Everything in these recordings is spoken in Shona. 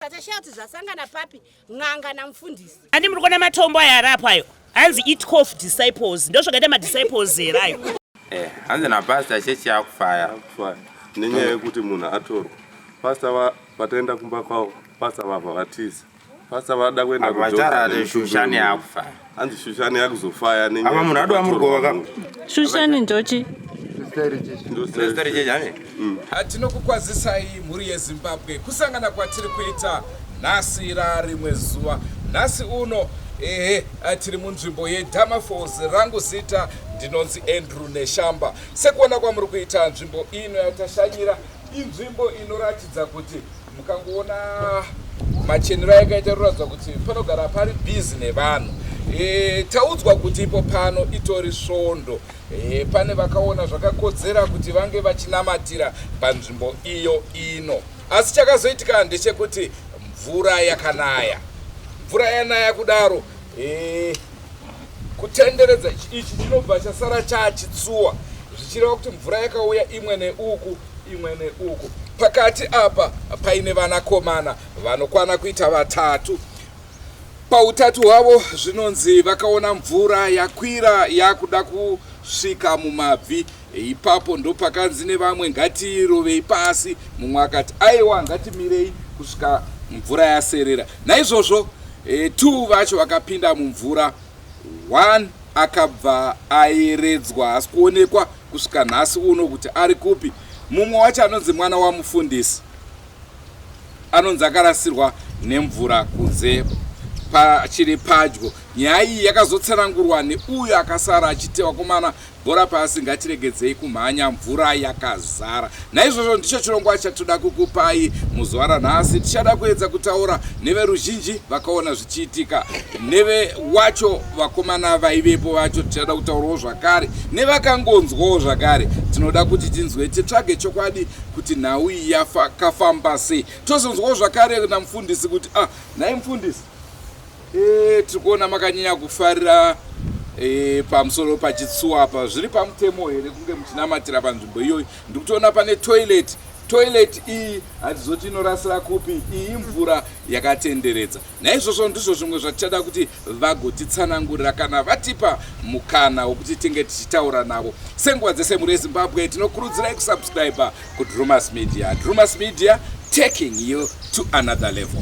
Natasha kuti zvasangana papi n'anga namufundisi. Ani muri kuona matombo aya arapo ayo. Hanzi eat cough disciples. Ndozvakaita madisciples here ayo. Eh, hanzi napastor chechi yakufaya. Nenyaya yekuti munhu atorwa. Pastor vataenda kumba kwavo, pastor vabva vatiza. Pastor vada kuenda kuJordan. Vachara shushani yakufaya. hanzi shushani yakuzofaya ne apa munhu adova murugova ka shushani ndochi mm. hatinokukwazisai mhuri yezimbabwe kusangana kwatiri kuita nhasi ra rimwe zuva nhasi uno ehe eh, tiri munzvimbo yedama falls rangu zita ndinonzi andrew neshamba sekuona kwamuri kuita nzvimbo ino yatashanyira Inzvimbo inoratidza kuti mukangoona machenero ayakaita inoratidza kuti panogara pari busy nevanhu e, taudzwa kuti ipo pano itori svondo e, pane vakaona zvakakodzera kuti vange vachinamatira panzvimbo iyo ino asi chakazoitika ndechekuti mvura yakanaya mvura yanaya kudaro e, Kutenderedza ichi ichi chinobva chasara chaachitsuwa zvichireva kuti mvura yakauya imwe neuku imwe neuku. Pakati apa paine vanakomana vanokwana kuita vatatu. Pautatu hwavo zvinonzi vakaona mvura yakwira yakuda kusvika mumabvi Ipapo ndopakanzi nevamwe, Ngatiirovei pasi. Mumwe akati, Aiwa, ngatimirei kusvika mvura yaserera. Naizvozvo e, two vacho vakapinda mumvura, one akabva ayeredzwa, hasi kuonekwa kusvika nhasi uno kuti ari kupi. Mumwe wacho anonzi mwana wamufundisi, anonzi akarasirwa nemvura kunze pachiri padyo. Nyaya iyi yakazotsanangurwa neuyo akasara achiti vakomana Bhora pasi ngatiregedzei kumhanya mvura yakazara. Naizvozvo ndicho chirongwa chatoda kukupai muzuva ranhasi. Tichada kuedza kutaura neveruzhinji vakaona zvichiitika, neve wacho vakomana vaivepo vacho. Tichada kutaurawo zvakare nevakangonzwawo zvakare. Tinoda kuti tinzwe, titsvage chokwadi kuti nhau iyi yakafamba sei. Tozonzwawo zvakare namufundisi kuti ah, nhai mufundisi Eh, tiri kuona makanyanya kufarira eh, pamusoro pachitsuwa apa zviri pamutemo here kunge muchinamatira panzvimbo iyoyi ndiri kutoona pane toilet toilet iyi hatizoti inorasira kupi iyi mvura yakatenderedza naizvozvo ndizvo zvimwe zvatichada kuti vagotitsanangurira kana vatipa mukana wokuti tinge tichitaura navo senguva dzese mhuri yezimbabwe tinokurudzirai kusubscribe kudrumas media drumas media taking you to another level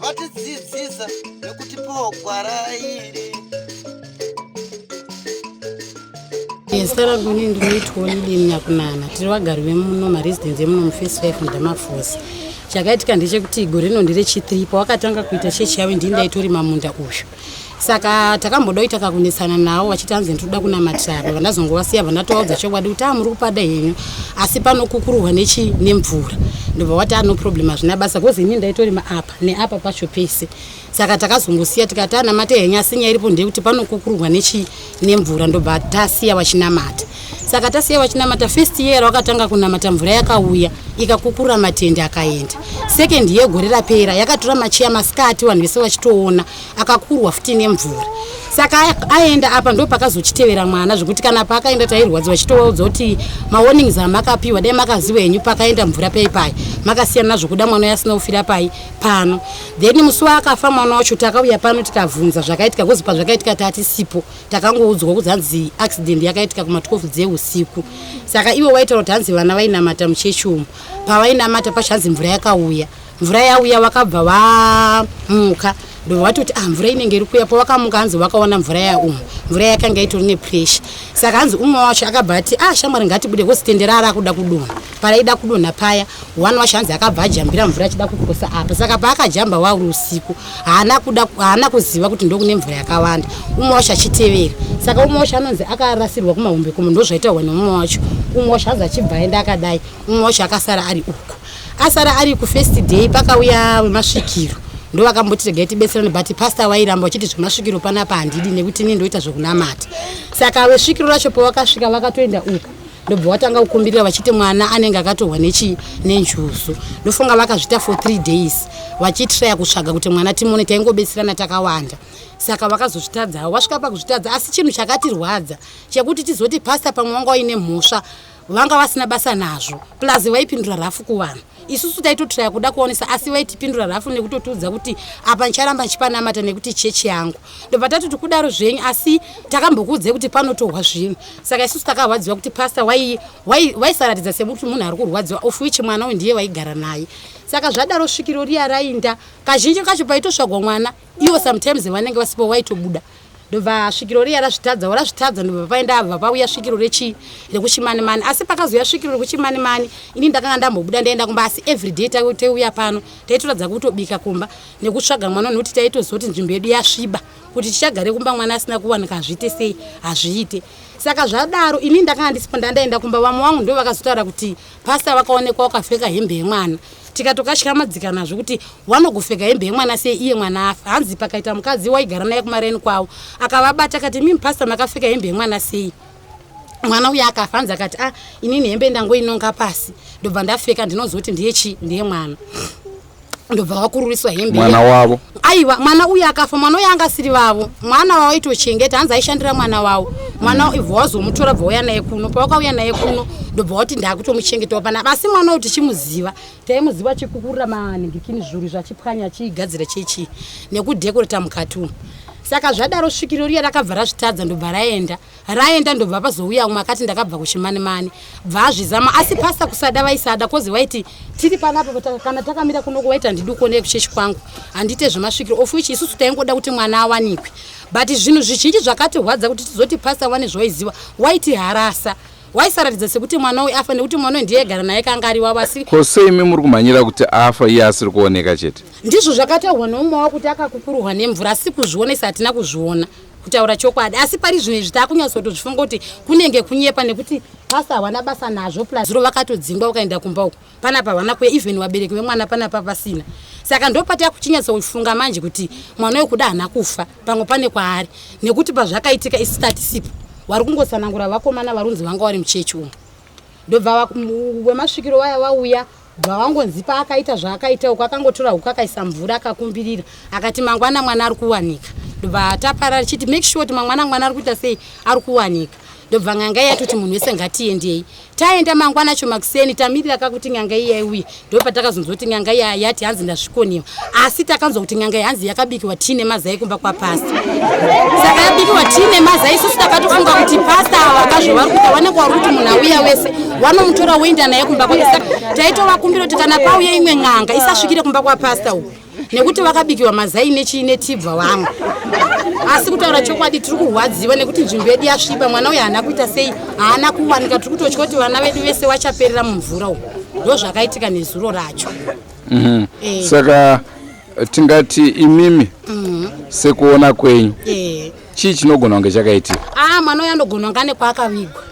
vatidzidzisa nekutipawo gwara iri sara kune ndinoitwa lidini nyakunana tiri vagari vemuno maresidence emuno mufirst five mudamafosi chakaitika ndechekuti gore rino nderechithree pawakatanga kuita chechi yavo ndii ndaitorima munda uyu saka takambodoita kakunetsana nawo vachiti anzi ndinoda kunamatira apa vandazongovasiya vandatovaudza chokwadi kuti amuri ah, kupada henyu asi panokukuruhwa nechi nemvura ndobva wati ano ah, problem hazvina basa bcause ini ndaitorima apa neapa pacho pese saka takazongosiya tikati anamate henyu asi nyaya iripo ndeyekuti panokukuruhwa nechi nemvura ndobva tasiya vachinamata saka tasiya vachinamata first year wakatanga kunamata mvura yakauya ikakukurura matende akaenda second year gore rapera yakatora machiya masikati vanhu vese vachitoona akakurwa futi nemvura saka aenda apa ndo pakazochitevera mwana zvekuti kana paakaenda tairwadziwa chitovaudza kuti mawarnings amakapiwa dai makaziva henyu pakaenda mvura pai pai makasiyana nazvokuda mwana uyo asina kufira pai pano then musi waakafa mwana wacho takauya pano tikabvunza zvakaitika kozi pazvakaitika tatisipo takangoudzwa kuti hanzi accident yakaitika kuma 12 dzeusiku saka ivo vaitaura kuti hanzi vana vainamata muchechi umu pavainamata pacho hanzi mvura yakauya mvura yauya vakabva vamuka ndovati kuti ah mvura inenge iri kuya pavakamuka hanzi vakaona mvura yaumu mvura yakanga itori nepressure saka hanzi umwe wacho akabva ati ah shamwari ngatibude kozi tendera arakuda kudona paraida kudonha paya one wacho hanzi akabva ajambira mvura achida kukosa apa saka paakajamba wauri usiku haana kuda haana kuziva kuti ndokune mvura yakawanda umwe wacho achitevera saka umwe wacho anonzi akarasirwa kumahombe kumo ndozvaitaurwa neumwe wacho umwe wacho hanzi achibva aenda akadai umwe wacho akasara ari uko asara ari kufirst day pakauya wemasvikiro ndovakamboti regai tibetserane but pastor vairamba vachiti zvemasvikiro panapa handidi nekuti ini ndoita zvekunamata saka vesvikiro racho pavakasvika vakatoenda uku ndobva watanga kukumbirira vachiti mwana anenge akatorwa nechi nenjuzu ndofunga vakazvita for three days vachitraya kutsvaga kuti mwana timone taingobetserana takawanda saka vakazozvitadzawo vasvika pakuzvitadza asi chinhu chakatirwadza chekuti tizoti pasta pamwe wanga waine mhosva vanga vasina basa nazvo plus vaipindura rafu kuvanhu isusu taitotraya kuda kuonesa asi vaitipindura rafu nekutotiudza kuti apa ndicharamba ndichipanamata nekuti chechi yangu ndobva tatoti kudaro zvenyu asi takambokuudzai kuti panotohwa zvinhu saka isusu takarwadziwa kuti pasta waisaratidza sekuti munhu ari kurwadziwa of which mwana uyu ndiye waigara naye saka zvadaro svikiro riya rainda kazhinji kacho paitosvagwa mwana iwo sometimes vanenge vasipo waitobuda ndobva svikiro riya razvitadza warazvitadza ndobva paenda ava pauya svikiro rechii rekuchimanimani asi pakazouya svikiro rekuchimanimani ini ndakanga ndambobuda ndaenda kumba asi everyday taiuya pano taitoratidza kutobika kumba nekutsvaga mwana nokuti taitozoti nzvimbo yedu yasviba kuti tichagare kumba mwana asina kuwanika hazviite sei hazviite saka zvadaro ini ndakanga ndisipo ndandaenda kumba vamwe wangu ndo vakazotaura kuti Pastor vakaonekwa wakapfeka hembe yemwana tikatokatyamadikana zvekuti wanogopfeka hembe yemwana sei iye mwana afa hanzi pakaita mukadzi waigara naye kumaraini kwavo akavabata akati mimi pastor makapfeka hembe yemwana sei mwana uya akafa hanzi akati ah inini hembe ndangoinonga pasi ndobva ndapfeka ndinozoti ndiye chii ndiye mwana ndobva vakururiswa hembe mwana wavo aiwa mwana uyu akafa mwana uyu anga asiri vavo mwana wavo aitochengeta hanzi aishandira mwana wavo mwana mm. ibva wazomutora bva uya naye kuno pavakauya naye kuno ndobva wati ndakutomuchengetawo pana asi mwana uyu tichimuziva taimuziva chikukurira maningikini zvuru zvachipwanya achiigadzira chechi nekudhekoreta mukati umu saka zvadaro svikiro riya rakabva razvitadza ndobva raenda raenda ndobva pazouya umwe akati ndakabva kuchimani mani bva azvizama asi pasta kusada vaisada kozi waiti tiri panapa kana takamira kunoko waiti handidi kuonei kuchechi kwangu handite zvemasvikiro of which isusu taingoda kuti mwana awanikwe but zvinhu zvizhinji zvakatirwadza kuti tizoti pasta wane zvawaiziva waiti harasa waisaratidza sekuti mwana uyu afa nekuti mwana uyu ndiye gara naye kanga ari wavo asi ko sei imi muri kumhanyira kuti afa iye asiri kuoneka chete ndizvo zvakataurwa neumwe wakuti akakukuruhwa nemvura asi kuzvionesa hatina kuzviona kutaura chokwadi asi pari zvino izvi takunyatsotozvifunga kuti kunenge kunyepa nekuti pasi hawana basa nazvo plus zuro vakatodzingwa ukaenda kumba uko panapa hawana kuya even vabereki vemwana panapa pasina saka ndopataya kuchinyatsofunga manje kuti mwana wekuda hana kufa pamwe pane kwaari nekuti pazvakaitika isitatisipo wari kungosanangura vakomana varunzi vanga wari muchechi umu ndobva wemasvikiro waya vauya wa Bvawangonzi paakaita zvaakaita uko akangotora huku akaisa mvura akakumbirira akati mangwana mwana ari kuwanika ndobva taparara chiti make sure kuti mangwana mwana ari kuita sei ari kuwanika ndobva nganga iya toti munhu wese ngatiendei taenda mangwana acho makuseni tamirira kakuti nganga iya iuye ndopatakazonzwa kuti nganga iya yati hanzi ndasvikoniwa asi takanzwa kuti n'anga yanzi yakabikiwa tii nemazai kumba kwapasta saka yabikiwa tii nemazai isusu takatofunga kuti pasta ava vakazvo vari kuita vanenge wari kuti munhu auya wese wanomutora woenda naye kumba kwake saka taitovakumbira kuti kana pauya imwe n'anga isasvikire kumba kwapasta uku nekuti vakabikiwa mazai nechii netibva vamwe asi kutaura chokwadi tiri kurwadziwa nekuti nzvimbo yedu yasviba mwana uyo haana kuita sei haana kuwanika tiri kutotya kuti vana vedu vese vachaperera mumvura uku ndozvakaitika nezuro racho Mhm. Eh. saka tingati imimi Mhm. sekuona kwenyu Eh. chii chinogona kunge chakaitika aa mwana uyo anogona kunge ane kwaakavigwa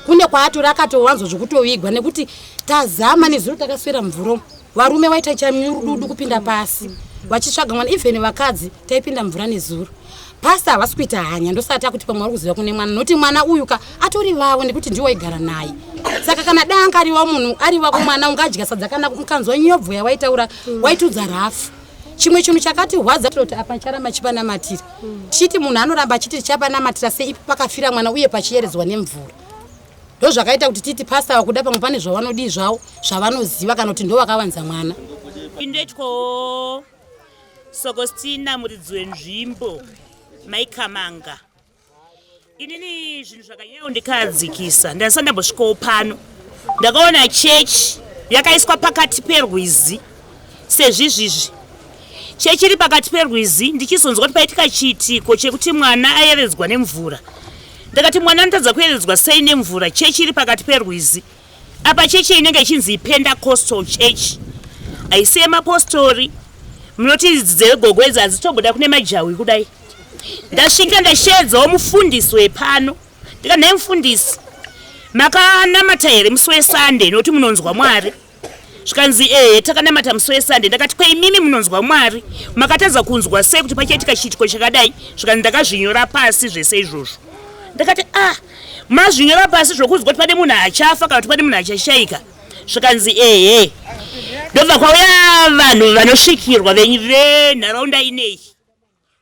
kune kwaatori akatowanzwa zvekutovigwa nekuti tazama nezuro takaswera mvura umu. varume vaita chamirududu kupinda pasi vachitsvaga mwana even vakadzi taipinda mvura nezuro Pastor havasi kuita hanya ndosati akuti pamwe vari kuziva kune mwana noti mwana uyu ka atori vavo nekuti ndiwo aigara naye saka kana da anga ariwa munhu ari vako mwana ungadya sadza kana mukanzwa nyobvo yawaitaura mm. waitudza rafu chimwe chinhu chakati hwadza tinoti apa charamba chipanamatira mm. tichiti munhu anoramba achiti tichapanamatira seipi pakafira mwana uye pachiyeredzwa nemvura ndozvakaita kuti titi pastor vakuda pamwe pane zvavanodii zvavo zvavanoziva kana kuti ndovakavanza mwana indetyo sokostina muridzi wenzvimbo maikamanga inini zvinhu zvakanyanya kundikadzikisa ndasati ndambosvikawo pano ndakaona chechi yakaiswa pakati perwizi sezvizvizvi chechi iri pakati perwizi ndichizonzwa kuti paitika chiitiko chekuti mwana ayeredzwa nemvura ndakati mwana anotadza kuyeredzwa sei nemvura chechi iri pakati perwizi Apa chechi inenge ichinzi Pentecostal Church haisi yemapostori. Munoti idzi dzegogo idzi hadzitobuda kune majahwi kudai. Ndasvika ndasheedzawo mufundisi wepano ndika nhai mufundisi makanamata here musi wesunday nokuti munonzwa mwari zvikanzi ehe takanamata musi wesunday ndakati kweimimi munonzwa mwari makatadza kunzwa sei kuti pachaitika chiitiko chakadai zvikanzi ndakazvinyora pasi zvese izvozvo ndakati ah Mazvinyora pasi zvokunzwa kuti pane munhu achafa kana kuti pane munhu achashaika zvikanzi ehe ndobva kwauya vanhu vanosvikirwa venharaunda ineyi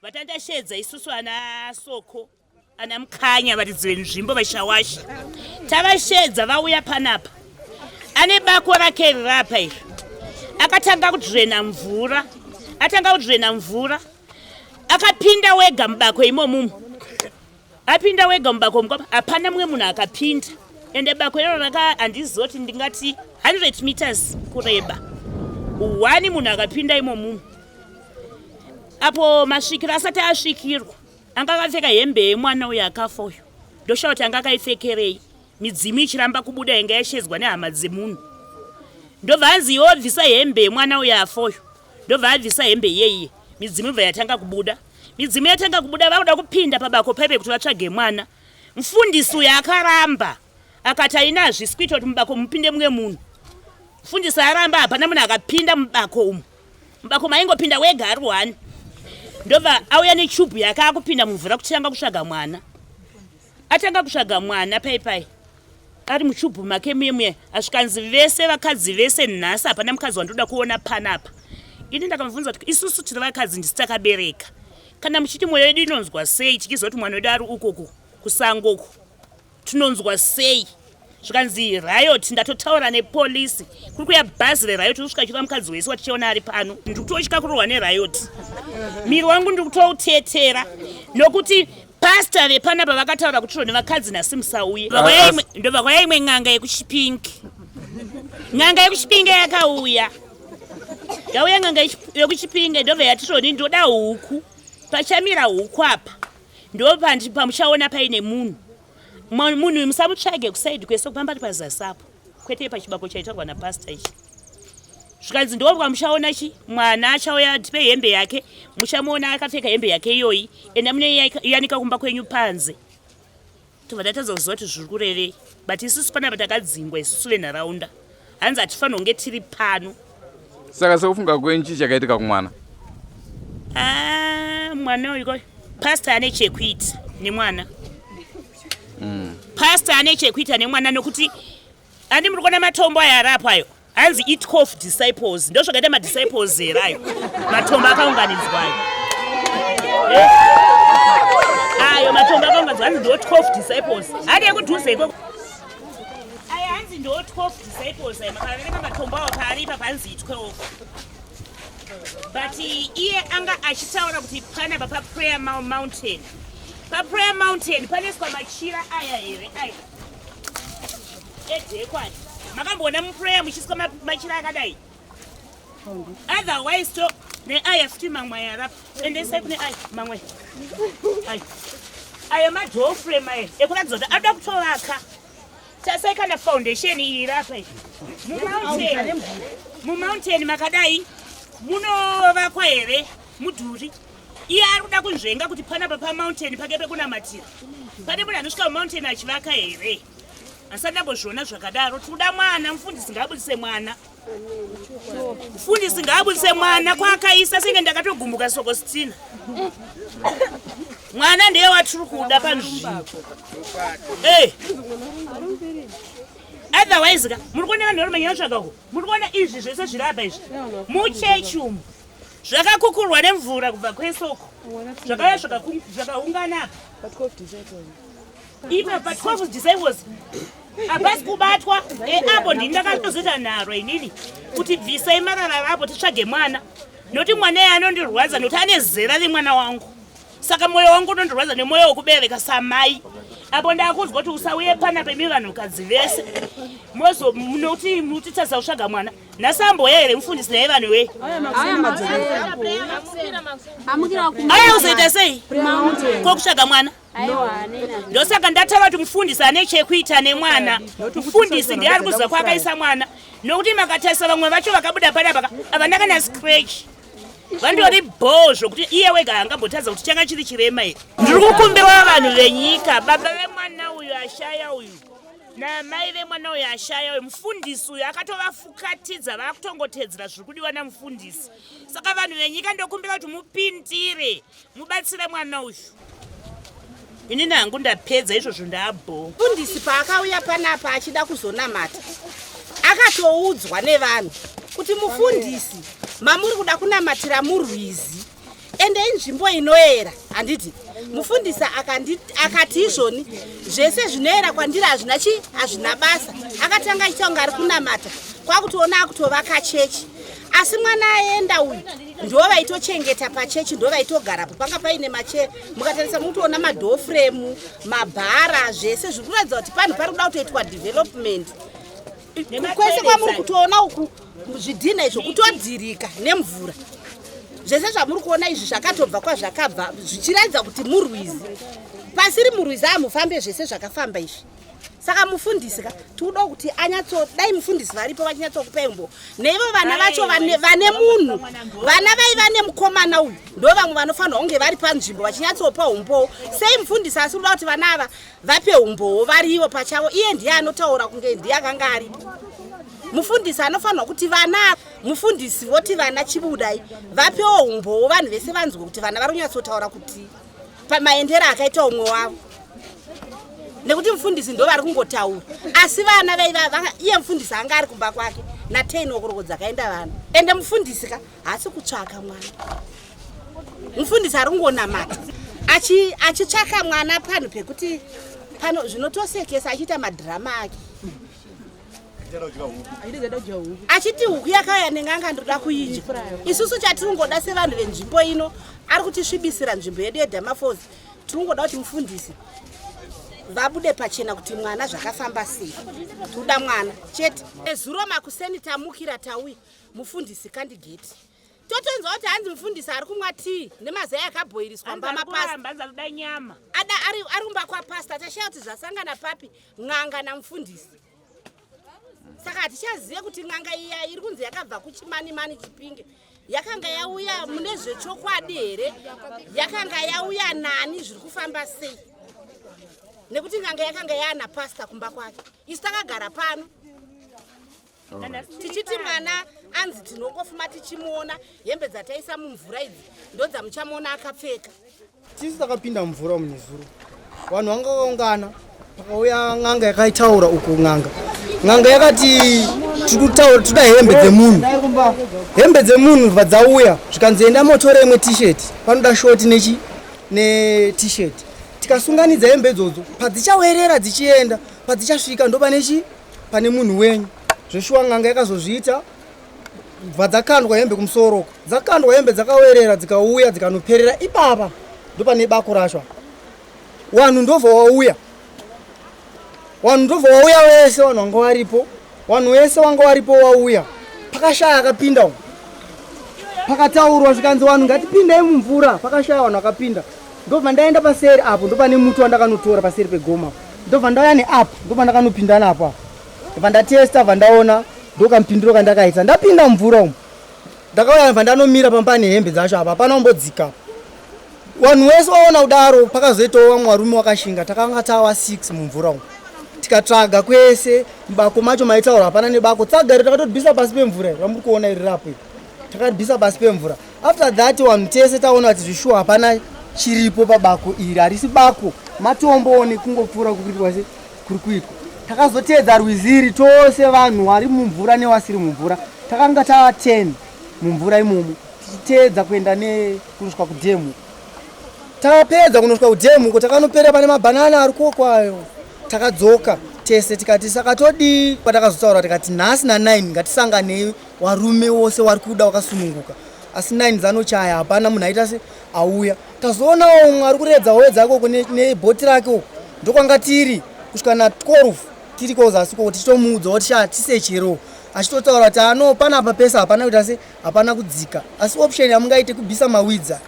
vatandashedza isusu ana soko ana mukanya varidzi venzvimbo vashawasha tavashedza vauya panapa ane bako rake rirapa iri akatanga kudzvena mvura atanga kudzvena mvura akapinda wega mubako imomumu Apinda wega mubako mukwa hapana mumwe munhu akapinda ende bako iro raka handizoti ndingati 100 meters kureba one munhu akapinda imo mumu apo masvikiro asati asvikirwa anga akapfeka hembe yemwana uyo akafa uyo ndoshaa kuti anga akaipfekerei midzimu ichiramba kubuda yanga yashedzwa nehama dzemunhu ndobva anzi iwe wabvisa hembe yemwana uyo afa uyo ndobva abvisa hembe iyeiye midzimu ibva yatanga kubuda Midzimu yatanga kubuda vakuda kupinda pabako paive kuti vatsvage mwana. Mfundisi uyo akaramba akati haina hazvisi kuita kuti mubako mupinde mumwe munhu. Mfundisi aramba hapana munhu akapinda mubako umu. Mubako maingopinda wega ari one. Ndobva auya nechubhu yake akupinda mumvura kutanga kutsvaga mwana. atanga kutsvaga mwana pai pai ari muchubhu make muye muye asvikanzi vese vakadzi vese nhasi hapana mukadzi wandoda kuona panapa ini ndakamubvunza kuti isusu tiri vakadzi ndisi takabereka kana muchiti mwoyo yedu inonzwa sei tichiziva kuti mwana wedu ari ukoko kusango uku tinonzwa sei zvikanzi riot ndatotaura nepolisi kuri kuya bhazi reriot uri kusvika chura mukadzi wese watichiona ari pano ndiri kutotya kurohwa neriot miri wangu ndiri kutoutetera nokuti pasta vepanapa vakataura kuti ro nevakadzi nhasi musauye ndovakwaya imwe n'anga yekuchipingi n'anga yekuchipingi yakauya yauya n'anga yekuchipingi ndobva yati roni ndoda huku pachamira huku apa ndopamuchaona paine munhu munhu uyu musamutsvage kusaidi kwese kupamba ari pazasi apo kwete pachibako chaitaurwa napasta ichi zvikanzi ndobwa muchaona chi mwana achauya atipe hembe yake muchamuona akapfeka hembe yake iyoyi enda mune yanika kumba kwenyu panze tobva tatadza kuziva kuti zviri kurevei but isusu panapa takadzingwa isusu venharaunda hanzi hatifanirwa kunge tiri pano saka sekufunga kwenyu chii chakaitika kumwana ah, mwana uyu pasta ane chekuita nemwana mm. pasta ane chekuita nemwana nokuti andi muri kuona matombo ayo arapo ayo hanzi eat cof disciples ndo zvakaita madisciples here ayo matombo akaunganidzwa ayo eh? ayo matombo akaunganidzwa hanzi ndot cof disciples hadi ekudhuze ikoko hanzi ndo 12 disciples ayi makavereka matombo awo paaripa panzi itwe ofa but iye anga achitaura kuti pana papa prayer mountain paprayer mountain panoiswa machira aya here aya edekwani makamboona muprayer muchiiswa machira akadai Otherwise, so ne aya futi mamwe aya rap endesai kune aya mamwe aya aya madoor frame aya ekuratidza kuti ada kutovaka tasai kana foundation iyi rapa iyi mumountain mumountain makadai munovakwa here mudhuri iye ari kuda kunzvenga kuti panapa pamountain pake pekunamatira pane munhu anosvika mumountain achivaka here asi andambozviona zvakadaro tikuda mwana mufundisi ngaabudise mwana mfundisi ngaabudise mwana kwaakaisa senge ndakatogumbuka soko sitina mwana ndiye watiri kuda panzvimbo eh. otherwise ka muri kuona vanhu vari manyana tsvaka uko muri kuona izvi zvese zviri apa izvi muchechi umu zvakakukurwa nemvura kubva kwesoko zvakaya zvakaungana ipa pa 12 disciples hapasi kubatwa eapo ndini ndakatozoita nharo inini kuti bvisai marara rapo titsvage mwana noti mwana iye anondirwadza noti ane zera remwana wangu saka mwoyo wangu unondirwadza nemwoyo wekubereka samai apo ndakudzwa kuti usauye pana pemi vanhukadzi vese mozomuti mutitadza kusvaga mwana nasambo here mufundisi naye vanhu we aya uzoita sei ko kutsvaga mwana ndosaka ndataura kuti mufundisi ane chekuita nemwana mufundisi ndiye ari kuziva kwaakaisa mwana nokuti makatarisa vamwe vacho vakabuda panapaka havana kana scratch vandori bhoo zvokuti iye wega angambotadza kuti changa chiri chirema here ndiri kukumbirwa vanhu venyika baba vemwana uyu ashaya uyu namai vemwana uyo ashaya uyo mufundisi uyo akatovafukatidza vakutongotedzera zviri kudiwa namufundisi saka vanhu venyika ndokumbira kuti mupindire mubatsire mwana uyu inini hangu ndapedza izvozvo ndaabho mufundisi paakauya panapa achida kuzonamata akatoudzwa nevanhu kuti mufundisi mamuri kuda kunamatira murwizi ende inzvimbo inoera handiti mufundisi akati izvoni zvese zvinoera kwandiri hazvina chii hazvina basa akatanga aita kunge ari kunamata kwakutoona akutovaka chechi asi mwana aenda uyu ndo vaitochengeta pachechi ndo vaitogarapo panga paine mache mukatarisa mukutoona madhoo fremu mabhara zvese zviri kuratidza kuti panhu pari kuda kutoitwa development kwese kwamuri kutoona uku zvidhina izvo kutodhirika nemvura zvese zvamuri kuona izvi zvakatobva kwazvakabva zvichiratidza kuti murwizi pasiri murwizi amufambe zvese zvakafamba izvi saka mufundisi ka tikuda kuti anyatso dai mufundisi varipo vachinyatsokupai mbo neivo vana vacho vane munhu vana vaiva nemukomana uyu ndo vamwe vanofanirwa kunge vari panzvimbo vachinyatsopa umbowo sei mufundisi asi kuda kuti vana ava vape umbowo varivo pachavo iye ndiye anotaura kunge ndiye akanga aripo mufundisi anofanirwa kuti vana mufundisi voti vana chibudai vapewo umbowo vanhu vese vanzwe kuti vana vari kunyatsotaura kuti pamaendero akaita umwe wavo nekuti mufundisi ndo vari kungotaura asi vana vaiva iye mufundisi anga ari kumba kwake nateinokoroko dzakaenda vana ende mufundisi ka haasi kutsvaka mwana mufundisi ari kungonamata achitsvaka mwana panhu pekuti pano zvinotosekesa achiita madhirama ake achiti huku yakauya nenganga ndinoda kuidya isusu chatiri kungoda sevanhu venzvimbo ino ari kutisvibisira nzvimbo yedu yedamafos tiri kungoda kuti mufundisi vabude pachena kuti mwana zvakafamba sei tinoda mwana chete ezuro makuseni tamukira tauya mufundisi kandigeti totonzwa kuti hanzi mufundisi ari kumwa tii nemazai akabhoiriswa mbamapasada nyama ada ari kumba kwapasta tashaya kuti zvasangana papi n'anga namufundisi saka hatichazive kuti n'anga iya iri kunzi yakabva kuchimanimani chipinge yakanga yauya mune zvechokwadi here yakanga yauya nani zviri kufamba sei nekuti n'anga yakanga yaana pasta kumba kwake isu takagara pano tichiti mwana anzi tinongofuma tichimuona hembe dzataisa mumvura idzi ndodzamuchamuona akapfeka tisu takapinda mumvura umu nezuro vanhu vanga vakaungana pakauya n'anga yakaitaura uko n'anga n'anga yakati tikutaura tida hembe dzemunhu hembe dzemunhu bva dzauya zvikanzi enda motore imwe t-shirt panoda short nechi net-shirt tikasunganidza hembe idzodzo padzichawerera dzichienda padzichasvika ndoba nechi pane munhu wenyu zveshuwa n'anga yakazozviita bva dzakandwa hembe kumusoro uko dzakandwa hembe dzakawerera dzikauya dzikanoperera ipapa ndopane bako rashwa wanhu ndobva wauya wanhu ndobva wauya wese wanhu wanga waripo wanhu wese wanga waripo wauya pakashaya akapinda pakataurwa zvikanzi wanhu ngatipindei mumvura pakashaya wanhu akapinda ndobva ndaenda paseri apo ndopane muti wandakanotora paseri pegoma ndobva ndauya neapp ndobva ndakanopinda napo apo ndobva ndatesta bva ndaona ndokamupindiro kandakaita ndapinda mvura umu ndakauya bva ndanomira pamba nehembe dzacho apa hapana umbodzika vanhu wese waona kudaro pakazoitawo vamwe varume wakashinga takanga tawa six mumvura umu tikatsvaga kwese mubako macho maitaura hapana nebako tsagari takatodbisa pasi pemvura vamuri kuona iri rapo takadbisa pasi pemvura After that one tese taona kuti zvishuwa hapana chiripo pabako iri harisi bako matombowo nekungopfuura kuitwa se kuri kuitwa takazoteedza rwizi iri tose vanhu wari mumvura newasiri mumvura takanga tava ten mumvura imomo tichiteedza kuenda nekunosvika kudhemu tapedza kunosvika kudhemu uko takanopera pane mabhanana ari kokwayo takadzoka tese tikati sakatodii kwatakazotaura tikati nhasi na9 ngatisanganei Warume wose wari kuda wakasununguka asi nine dzanochaya hapana munhu aita se auya tazoonawo umwe ari kuredza howe dzake uko nebhoti rake uko ndokwanga tiri kusvika na 12 tiri kozasi koko tichitomuudza kuti sha tisechero achitotaura kuti ano panapa pese hapana kuita se hapana kudzika asi option yamungaite kubisa mawidza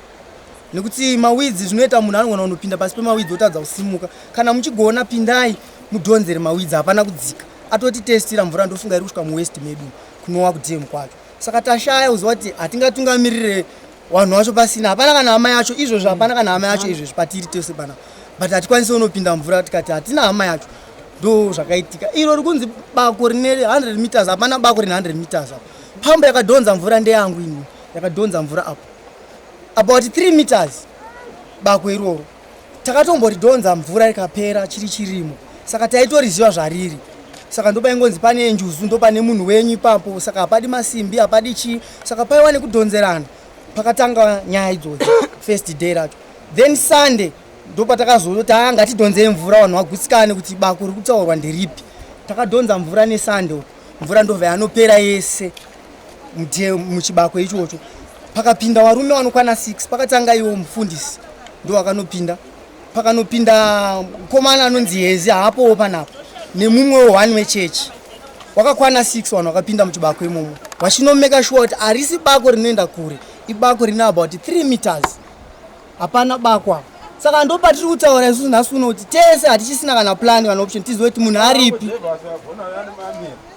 nekuti mawidzi zvinoita munhu anogona kunopinda pasi pemawidzi otadza kusimuka kana muchigona pindai mudhonzere mawidzi hapana kudzika atoti testira mvura ndofunga iri kusvika muwest medu kunowa kudm kwacho saka tashaya kuziva kuti hatingatungamirire vanhu vacho pasina hapana kana hama yacho izvozvi hapana kana hama yacho izvozvi patiri tese pana but hatikwanisi unopinda mvura tikati hatina hama yacho ndo zvakaitika iro rikunzi bako rine 100 meters hapana bako rine 100 meters apo pambo yakadhonza mvura ndeyangu ini yakadhonza mvura apo about 3 meters bako iroro takatomboridhonza mvura ikapera chiri chirimo saka taitoriziva zvariri saka ndopaingonzi pane njuzu ndopane munhu wenyu ipapo saka hapadi masimbi hapadi chii saka paiwa nekudhonzerana pakatanga nyaya idzodzo first day racho then sunday ndopatakazoti haa ngatidhonzei mvura vanhu vagutsikane kuti bako rikutaurwa nderipi takadhonza mvura nesunday mvura ndova yanopera yese ndiye muchibako ichocho pakapinda varume vanokwana 6 pakatanga iwo mufundisi ndo wakanopinda pakanopinda mukomana anonzi hezi haapowo panapo nemumwewo one wechechi wakakwana 6 vanhu vakapinda muchibako imomo vachinomeka shuwa kuti harisi bako rinoenda kure ibako rine about 3 meters hapana bakwa saka ndo patiri kutaura isusu nhasi uno kuti tese hatichisina kana plani kana option tizive kuti munhu aripi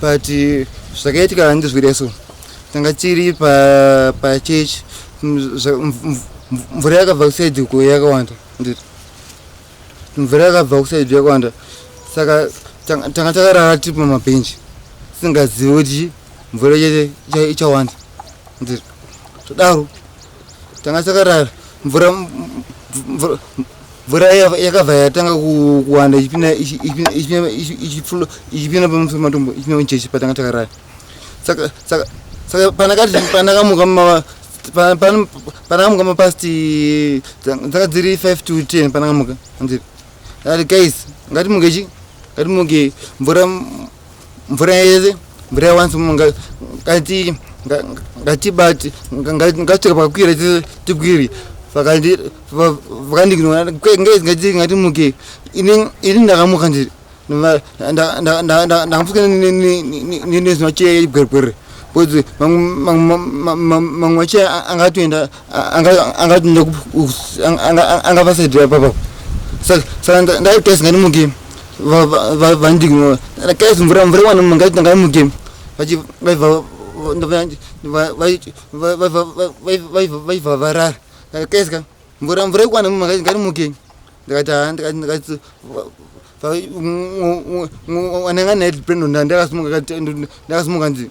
but zvakaitika hanzi zvireso tanga tiri pachechi mvura yakabva kusaidi ko yakawanda nditi mvura yakabva kusaidi yakawanda saka tanga takarara tiri pamabhenji tisingazivi kuti mvura chete ichawanda nditi todaro tanga takarara mvura mvura yakabva yatanga kuwanda ichipinda ichipinda pamusoro matombo ichipinda muchechi patanga takarara saka saka saka panakati panakamuka mava panakamuka mapast dzanga dziri five to ten panakamuka anziri ati guys ngatimuke chi ngatimuke mvura mvura yese mvura yawanzi munga ngati ngatibati ngatsveka pakwira tikwiri vakandignora ngati ngati muke ini ndakamuka ndiri ndakamfuka nezinocheyegwergwere bcause mamwe macheya angatoenda angavasaidira papa saka ndaitesi ngatimuke vandiignora kais mvura mvura iwana munhu ngaiti ngaimuke vaiva varara kaisika mvura mvura ikwana munhu ngaiti ngatimuke ndikati haa ndikati ndikati anenge anaedprenondandakasumuka ndakasumuka ndii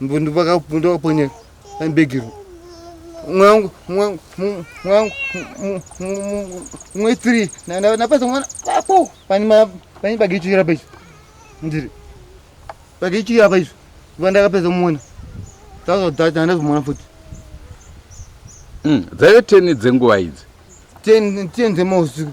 ndopakaponya bhegiro mwangu mwangu mwangu mwe three napasa mwana apo pane pagichiri apa izvo ndiri pagichiri apa izvo va ndakapedza kumona tazodhata handazomona futi hmm, dzaive ten dzenguva idzi ten ten dzemausiku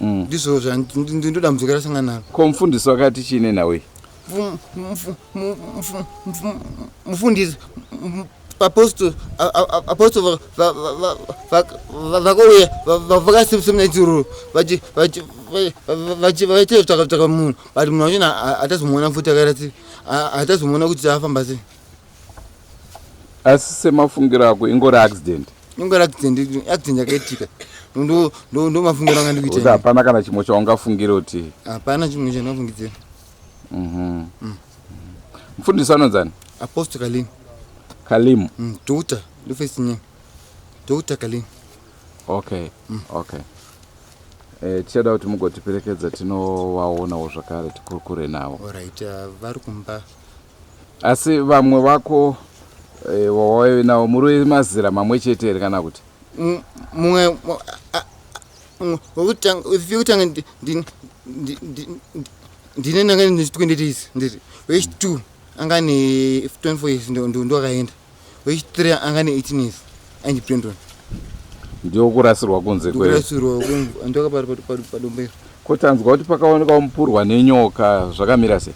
Mm. ndizvo zvandindodambudziko rasangana naro ko mufundisi wakati chii nenhau iyi mufundisi apostle apostle vakauya vakasemna chiruru vachitevtakataka munhu but munhu wachona hatazomuona futi akaratsi hatazomuona kuti afamba sei asi semafungiro ako ingori accident ingori accident accident yakaitika ndomafungiro anga ndikuita hapana kana chimwe chaungafungira kuti hapana chimwe chandingafungidzira mhm. mm. mfundisi anonzani aposto kalim kalim mm, doctor ndofesinyini doctor kalim okay mm. okay Eh, tichada kuti mugotiperekedza tinovaonawo zvakare tikurukure navo orit ah, vari kumba Asi vamwe vako eh, wawave nawo muri mazira mamwe chete here kana kuti? Mumwe wekutanga wekutanga ndine ndanga ndichitwendetis ndiri wechitu anga ne 24 years ndo ndakaenda wechitrea anga ne 18 years ainzi brendon ndiwo kurasirwa kunze kurasirwa ndoka padombero ko tanzwa kuti pakaonekwa mupurwa nenyoka zvakamira sei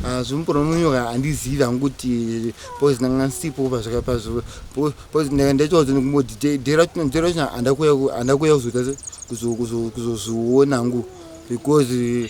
ah, zvomupurwa nenyoka handizivi hangu kuti pose ndanga ndisipo pazvakapazvo pose ndanga ndachiwadzo nekumboti dera china handa kuya kuzoita kuzozviona hangu because eh,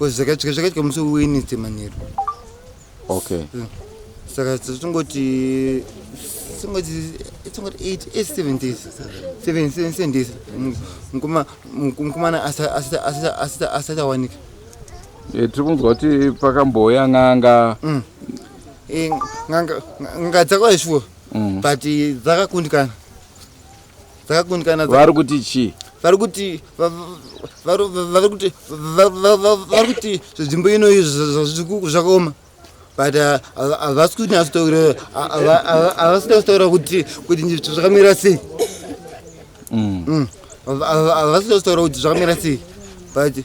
zvakaitika musi wewednesday manheru okay mm. saka tingoti tingoti tingoti 7 days 7 days mukomana asati awanika eh, tiri kunzwa kuti pakambouya n'anga mm. eh, n'anga dzakauya shuwa mm. but dzakakundikana vakakundikana vari kuti chii vari kuti vari kuti vari kuti zvenzvimbo inoyi zvazvikuku zvakaoma but uh, havasi kuti nyatsotaura havasi nyatsotaura kuti kuti nyitso zvakamira sei mm. mm. havasi nyatsotaura kuti zvakamira sei but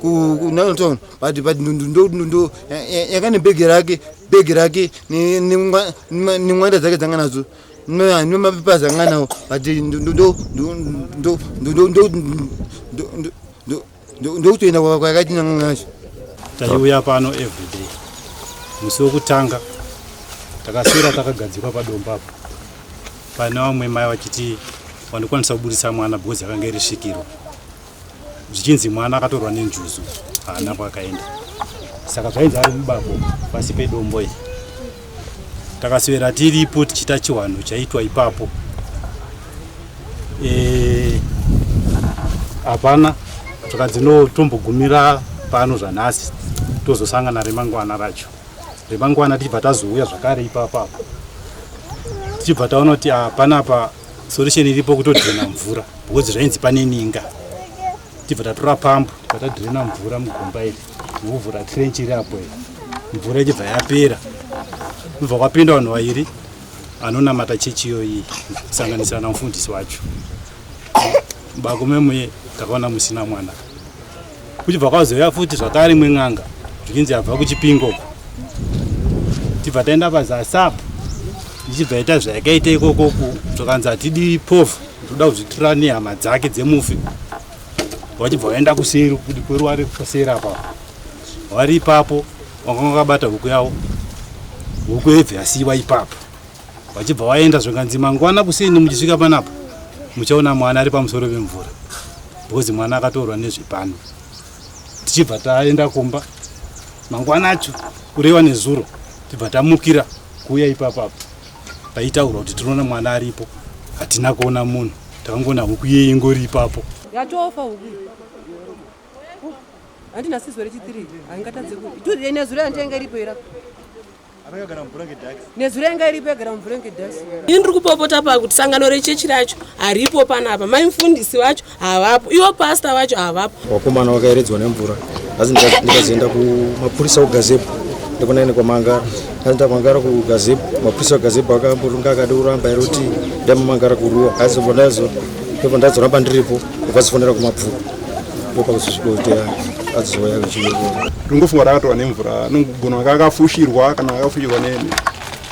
kunaton but but ndo yakane bhegi rake bhegi rake nemwanda dzake dzanga nadzo nemapepers anga nawo but ndokutoenda kwayakaiti nanga nacho taiuya pano everyday musi wekutanga takaswera takagadzikwa padomba apo pane vamwe mai vachiti wandikwanisa kubudisa mwana because yakanga irisvikirwa zvichinzi mwana akatorwa nenjuzu haana kwakaenda saka zvainzi ari mubako pasi pedombo iri takaswera tiripo tichiita chiwanhu chaitwa ipapo eh, hapana e, saka dzinotombogumira pano zvanhasi tozosangana remangwana racho remangwana tichibva tazouya zvakare ipapapo tichibva taona kuti ah, panapa solution iripo kutodhirena mvura because zvainzi pane ninga tibva tatora pambu tatadhirena mvura mugomba iri nekuvhura trench iri apo iri mvura ichibva yapera kubva kwapinda vanhu vairi anonamata chechi iyoyi kusanganisira na mufundisi wacho bakomemwe takaona musina mwana kuchibva kwazouya futi zvakare imwe n'anga zvikinzi yabva kuchipingo uko tibva taenda pazasapo ndichibva ita zvayakaita ikoko zvakanzi hatidi povha toda kuzvitira nehama dzake dzemufi vachibva vaenda kuseri kudi kweruware kuseri apapo vari ipapo vakanga vakabata huku yavo huku yebva yasiiwa ipapo vachibva vaenda zvikanzi mangwana kusini muchisvika panapa muchaona mwana ari pamusoro pemvura because mwana akatorwa nezvepano tichibva taenda kumba mangwana acho kureva nezuro tibva tamukira kuuya ipapapo paitaurwa kuti tinoona mwana aripo hatina kuona munhu takangoona huku iye ingori ipapo yatofa huku handina sizwe rechitiri haingatadze kuti iturienezuro yandienge iripo ira nezuro yanga iripo yagara mumvura yanga idhasi ini ndiri kupopota pakuti sangano rechechi racho haripo panapa mai mfundisi vacho havapo ivo pasta vacho havapo wakomana wakaeredzwa nemvura asi ndikazoenda kumapurisa kugazebo ndikunaine kwamangara asi ndamangara kugazebo mapurisa wegazebo akambotunga akadi kuramba iri kuti ndamamangara kuruwa asi ndazoramba ndiripo Vazifonera kumabvuku ndokwakuzosvikotea azoya kuchiveroa. Rungofunga rakatova nemvura anogona anga akafushirwa kana akafushirwa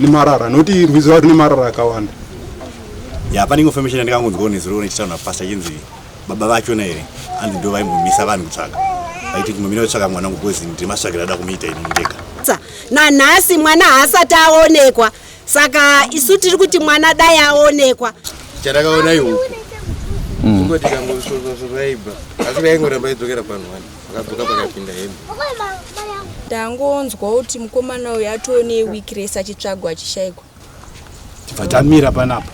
nemarara noti rwizi rwari nemarara akawanda. Ya pane information yandikangonzwawo nezuro nechitaura napastor chinzi baba vachona here anzi ndo vaimbomisa vanhu kutsvaga vaiti kumamira kutsvaga mwana wangu kozi ndimasvakira ada kumuita ini ndega nanhasi mwana haasati aonekwa saka isu tiri kuti mwana dai aonekwa chatakaona ihuku mm. ingoti kangosvosvosvosvaibva asi vaingoramba idzokera panhu wani akadzoka pakapinda hembe ndangonzwa kuti mukomana uyu atoo neweek res achitsvagwa achishaikwa tibva tamira panapa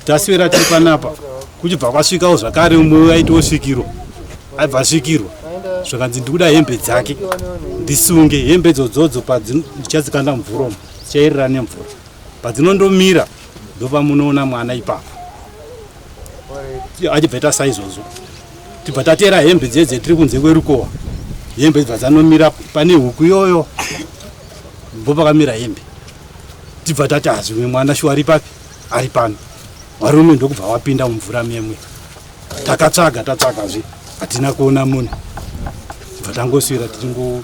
taswera tiri panapa kuchibva kwasvikawo zvakare umwe uyo aitiwo svikiro aibva asvikirwa zvakanzi ndikuda hembe dzake ndisunge hembe dzodzodzo padzichatsikanda mumvuromo Chairira nemvura padzinondomira ndopamunoona mwana ipapo achibva ita saizvozvo tibva tatera hembe dziye dzetiri kunze kwerukova hembe dzibva dzanomira pane huku iyoyo ndo pakamira hembe tibva tati hazvimwe ah, mwana shuwa ari papi ari pano varume ndokubva wapinda mumvura memwe takatsvaga tatsvagazve hatina kuona munhu bva tangoswira tiringo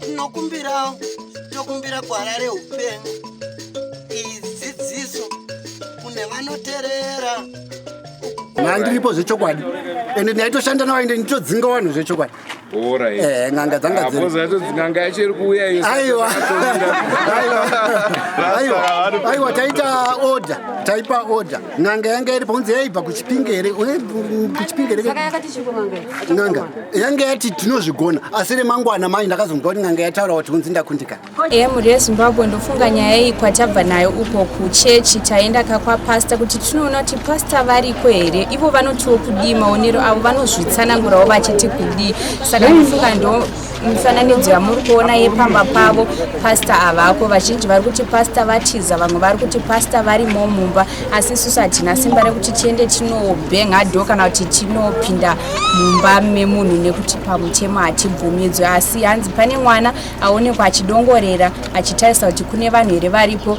tinokumbirawo tokumbira gwara reupenyu idzidziso kune vanoterera nandiripo zvechokwadi ende ndaitoshanda nawo ende nditodzinga vanhu zvechokwadi eh, n'anga dzangaaiwa ah, taita order taipa order n'anga yanga iripo kunzi yaibva kuchipinge here kuchipinge here n'anga yanga yati tinozvigona asi remangwana manje ndakazomva kuti n'anga yataura kuti kunzi ndakundikana ehe mhuri yezimbabwe ndofunga nyaya iyi kwatabva nayo uko kuchechi taenda kakwapasta kuti tinoona kuti pasta variko here ivo vanotiwo kudii maonero avo vanozvitsanangurawo vachiti kudii saka ndofunga ndo mifananidzo yamuri kuona yepamba pavo pasta havako vazhinji vari kuti pasta vatiza vamwe vari kuti pasta varimo mumba asi isusu hatina simba rekuti tiende tinobhenga dho kana kuti tinopinda mumba memunhu nekuti pamutemo hatibvumidzwe asi hanzi pane mwana aonekwa achidongorera achitarisa kuti kune vanhu here varipo